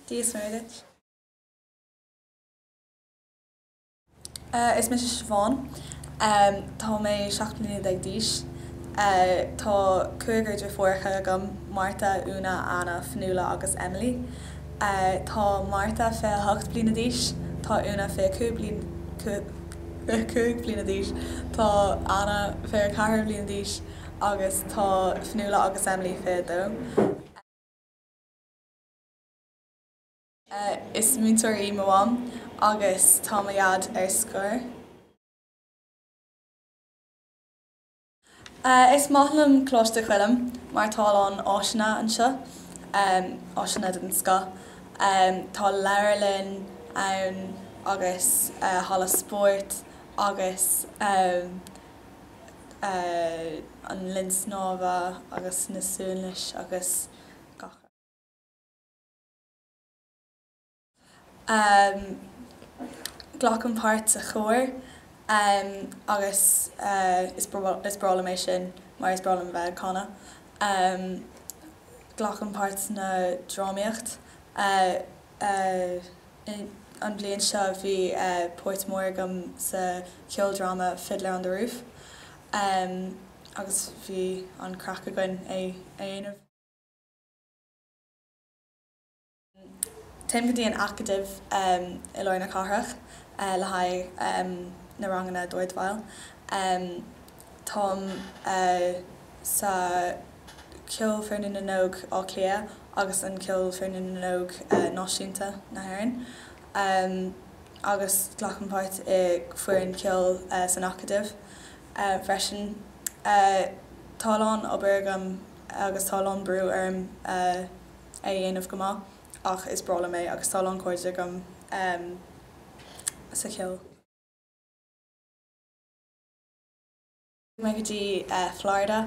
Dia dhuit. Is mise Siobhán. Tá mé seacht mbliana déag d'aois. Tá cúigear deirfiúracha agam, Martha, Úna, Anna, Fionnuala agus Emily. Tá Marta 28 bliana d'aois, tá Úna 25 bliana d'aois, tá Anna 24 bliana d'aois agus tá Fionnuala agus Emily 22. Is múinteoir í mo mham agus tá mo dhaid ar scor. Is maith liom Coláiste Choilm mar tá a lán áiseanna anseo, áiseanna den scoth. Tá leabharlann ann agus halla spóirt agus an linn snámha agus na suanliosanna agus gach rud. Glacaim páirt sa chór agus is breá liom é sin mar is breá liom a bheith ag canadh. Glacaim páirt sna drámaíocht. An bhliain seo bhí páirt mór agam sa cheoldráma Fiddler on the Roof agus bhí an-chraic againn é a dhéanamh. Téim go dtí an Acadamh i lár na cathrach le haghaidh na ranganna dordveidhil. Táim sa Cheolfhoirne na nÓg Átha Cliath agus an Cheolfhoirne na nÓg Náisiúnta na hÉireann agus glacaim páirt i foireann ceoil san Acadamh freisin. Tá a lán obair agam agus tá a lán brú orm. a dhéanamh go maith ach is breá liom é agus tá a lán cairde agam sa cheol. Chuaigh mé go dtí Florida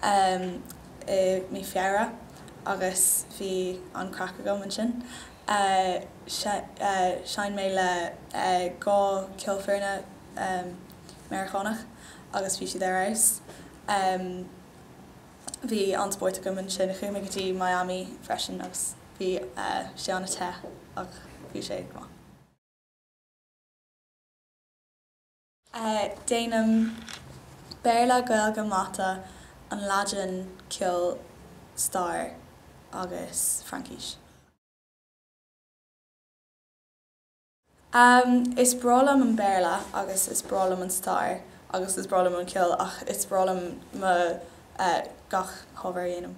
i mí Feabhra agus bhí an-chraic agam ansin. Sheinn mé le dhá cheolfhoirne Meiriceánach agus bhí siad ar fheabhas. Bhí an-spórt agam ansin. Chuaigh mé go dtí Miami freisin agus bhí sé an-te ach bhí sé go maith. Déanaim Béarla, Gaeilge, Mata, an Laidin, Ceol, Stair agus Fraincis. Ahem, is breá liom an Béarla agus is breá liom an stair agus is breá liom an ceol ach is breá liom mo, eh, gach ábhar a dhéanaim.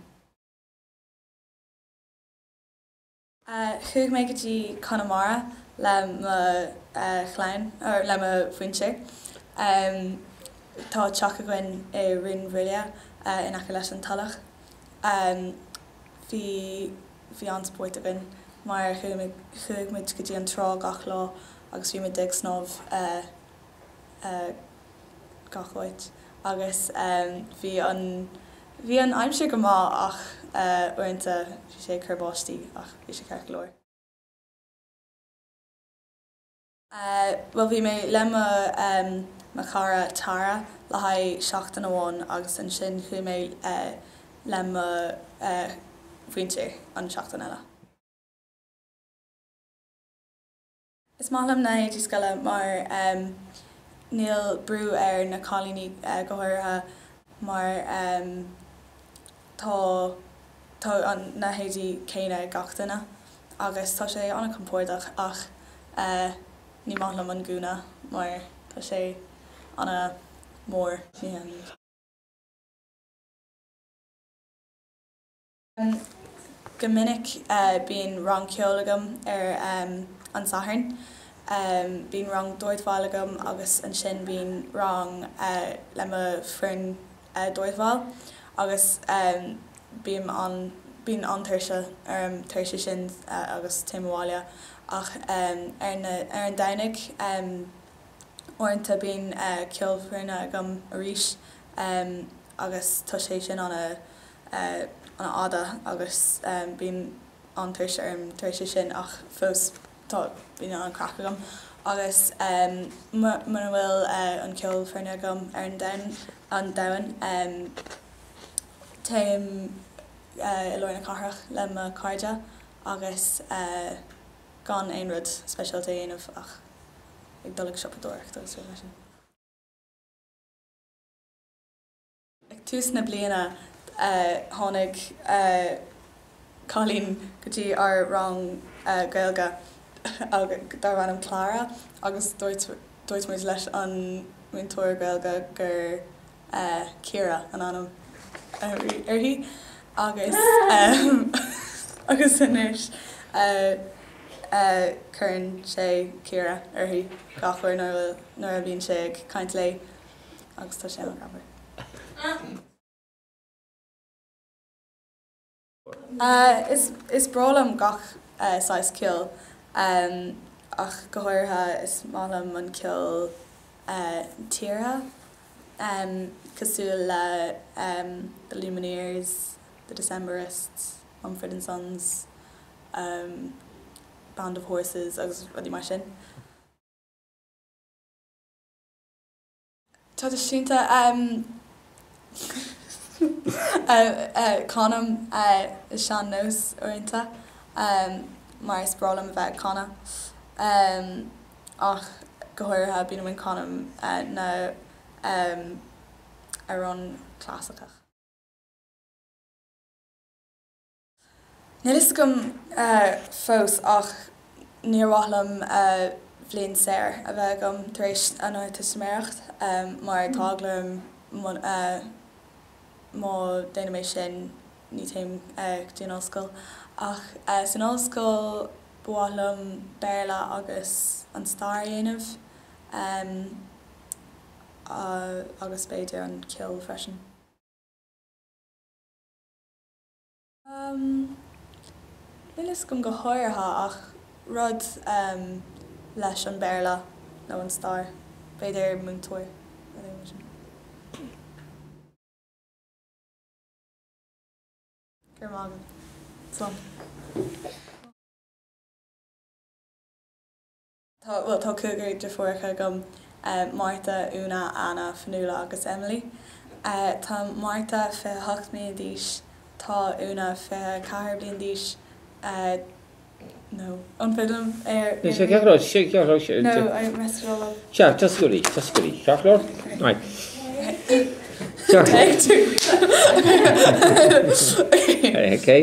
Eh, chuaigh mé go dtí Conamara le mo, eh, chlann, or, le mo mhuintir. Ahem, tá teach againn i Rinn Mhaoile, eh, in aice leis an Tulach. Ahem, bhí. Bhí an-spórt againn mar chuaigh muid go dtí an trá gach lá agus bhí muid ag snámh gach áit agus bhí an, bhí an aimsir go maith ach uaireanta bhí sé ag cur báistí ach bhí sé ceart go leor. Eh, bhuel, bhí mé le mo, em, mo chara Tara le haghaidh seachtain amháin agus ansin chuaigh mé, eh, le mo, eh, mhuintir an seachtain eile. Eh, is maith liom na héadaí scoile mar, em, níl brú ar na cailíní, eh, go háirithe mar, em, Tá tá an na héadaí céanna ag gach duine agus tá sé ana compordach ach eh ní maith liom an gúna mar tá sé ana mór. Go minic eh bíonn rang ceol agam ar em an Satharn. Em bíonn rang dordveidhil agam agus ansin bíonn rang eh le mo foireann. dordveidhil agus bíonn, bíonn an-tuirse orm tar éis sin agus téim abhaile ach ar an Domhnach uaireanta bíonn ceolfhoireann agam arís agus tá sé sin ana fhada agus bíonn an-tuirse orm tar éis sin ach fós. Tá, bíonn an-chraic agam agus mura bhfuil an ceolfhoireann agam ar an Domhnach, téim i lár na cathrach le mo chairde agus gan aon rud speisialta a dhéanamh ach ag dul ag siopadóireacht agus rudaí mar sin. Ag tús na bliana tháinig cailín go dtí ár rang Gaeilge darbh ainm Clara agus dúirt muid leis an múinteoir Gaeilge gur Ciara an ainm uirthi agus anois cuireann sé Ciara uirthi gach uair nuair a bhíonn sé ag caint léi. agus tá sé ina ghabhar. Is breá liom gach saghas ceoil ach go háirithe is maith liom an ceol tíre cosúil le The Lumineers, The Decemberists, Mumford and Sons, Band of Horses agus rudaí mar sin. traidisiúnta canaim sean-nós uaireanta mar is breá liom a bheith ag canadh ach go háirithe bíonn mé ag canadh na n-amhrán clasaiceach. Níl fhios agam fós ach níor mhaith liom bliain saor a bheith agam tar éis an Ardteistiméireacht mar tá eagla orm má déanaim sin ní téim go dtí an ollscoil. Ach san ollscoil ba mhaith liom Béarla agus an Stair a dhéanamh agus b'fhéidir an Ceol freisin. Níl a fhios agam go háirithe ach rud leis an Béarla nó an stair, b'fhéidir múinteoir. Go raibh maith agat. Slán. Tá cúigear deirfiúracha agam, Martha, Úna, Anna, Fionnuala agus Emily. Tá Martha fiche hocht mbliana d'aois, tá Úna fiche ceathair bliain d'aois, no, iompaigh liom ar an rí, no, I messed it all up. Sea, tosaigh arís, tosaigh arís, ceart go leor? Take two. Okay.